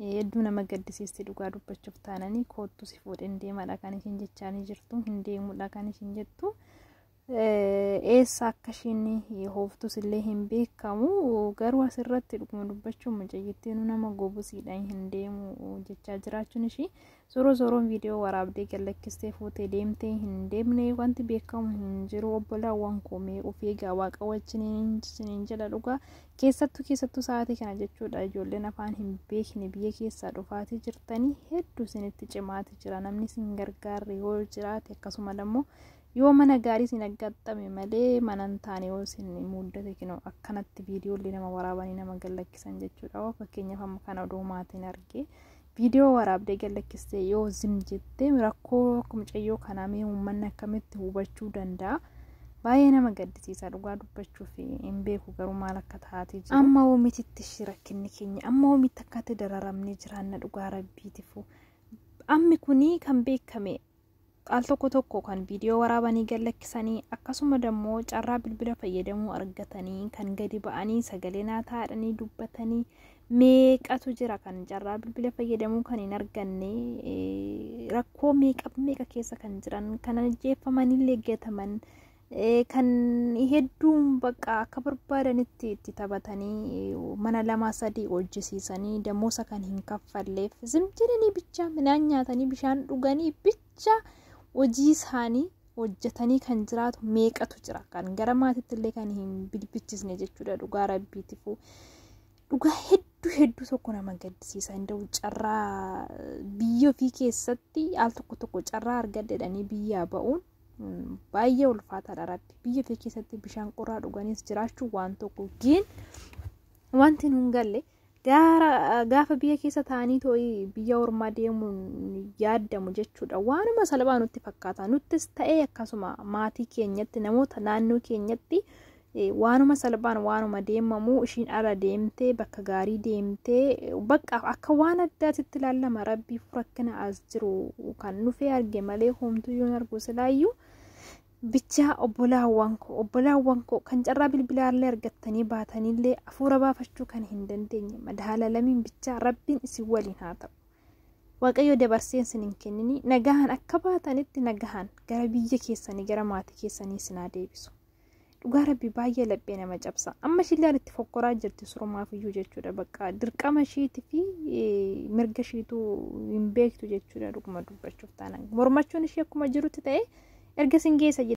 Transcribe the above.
Hedduu nama gaddisiisti dhugaa dubbachuuf taananii koottu si fuudheen deemaadha kan ishiin jechaanii jirtu hin deemuudha kan ishiin jettu. Eessa akka ishiin hooftus illee hin beekamu garuu asirratti dhuguma dubbachuun mucayyittiin nama gobusiidha hin deemu jechaa jiraachuun ishii Zoro zoroon viidiyoo waraabdee gallakkistee fuutee deemtee hin deemne wanti beekamu hin jiru obbolaawwan koomee of eegaa waaqa wajjiniin isiniin jedha dhugaa keessattuu keessattuu sa'aatii kana jechuudha ijoolleen afaan hin beekne biyya keessaa dhufaatii jirtanii hedduu isinitti cimaati jira namni isin gargaarre yoo jiraate akkasuma immoo yoo mana gaarii isin aggaxxame malee mana hin taane yoo isin muddate kinoo akkanatti viidiyoolee nama waraabanii nama gallakkisan jechuudha fakkeenyaaf amma kana oduu maatiin argee. Viidiyoo waraabdee gallakkistee yoo zim jettee rakkoo akka mucayyoo kanaa mee uummanni akkamitti hubachuu danda'a? Baay'ee nama gaddisiisa dhugaa dubbachuuf hin beeku garuu maal akka taatee jiru. Amma oomititti ishii rakkinni keenya amma oomitti akkatti dararamnee jiraanna dhugaa rabbiitifu. Ammi kuni kan beekame Al tokko tokko kan viidiyoo waraabanii gad lakkisanii akkasuma dammoo carraa bilbila fayyadamuu argatanii kan gadi ba'anii sagalee naa taa'adhanii dubbatanii meeqatu jira kan carraa bilbila fayyadamuu kan hin arganne rakkoo meeqa meeqa keessa kan jiran kan ajjeeffamanillee gataman kan hedduun bakka akka barbaadanitti itti taphatanii mana lama sadii hojjisiisanii damoosa kan hin kaffalleef zimjinanii bichaa midhaan nyaatanii bishaan dhuganii bichaa hojii isaanii hojjetanii kan jiraatu meeqatu jira kan gara maatiitti illee kan hin bilbichisne jechuudha dhugaa rabbiitifu dhugaa hedduu hedduu tokko nama gaddisiisa hin ta'u carraa biyya ofii keessatti al tokko tokko carraa argadhedhanii biyyaa ba'uun baay'ee ulfaataadha rabbi biyya ta'e keessatti bishaan qorraa dhuganiis jiraachuu waan tokko giin wanti nun galle gaafa biyya keessa taa'anii too'ii biyya ormaa deemuun yaadamu jechuudha waanuma salphaa nutti fakkaata nuttis ta'ee akkasuma maatii keenyatti namoota naannoo keenyatti Waanuma salphaan waanuma deemamu ishiin ala deemtee bakka gaarii deemtee bakka akka waan addaatitti ilaallama rabbiif rakkina as jiru kan dhufee arge malee homtuu yoon argu silaayyuu bichaa obbolaawwan koo obbolaawwan koo kan carraa bilbilaallee argattanii baataniillee afuura baafachuu kan hin dandeenye madaala lamiin bichaa rabbiin isin waliin haa ta'u. Waaqayyo dabarseen sin hin kennini nagahan akka baatanitti nagahan gara biyya keessanii gara maatii keessanii sin haa deebisu. dhugaa rabbi baay'ee laphee nama cabsa amma ishilleen itti fokkoraa jirti surumaaf iyyuu jechuudha bakka dirqama ishiiti fi mirga ishiitu hin beektu jechuudha dhuguma dubbachuuf taanaan mormachuun ishii akkuma jirutti ta'e erga sin geessa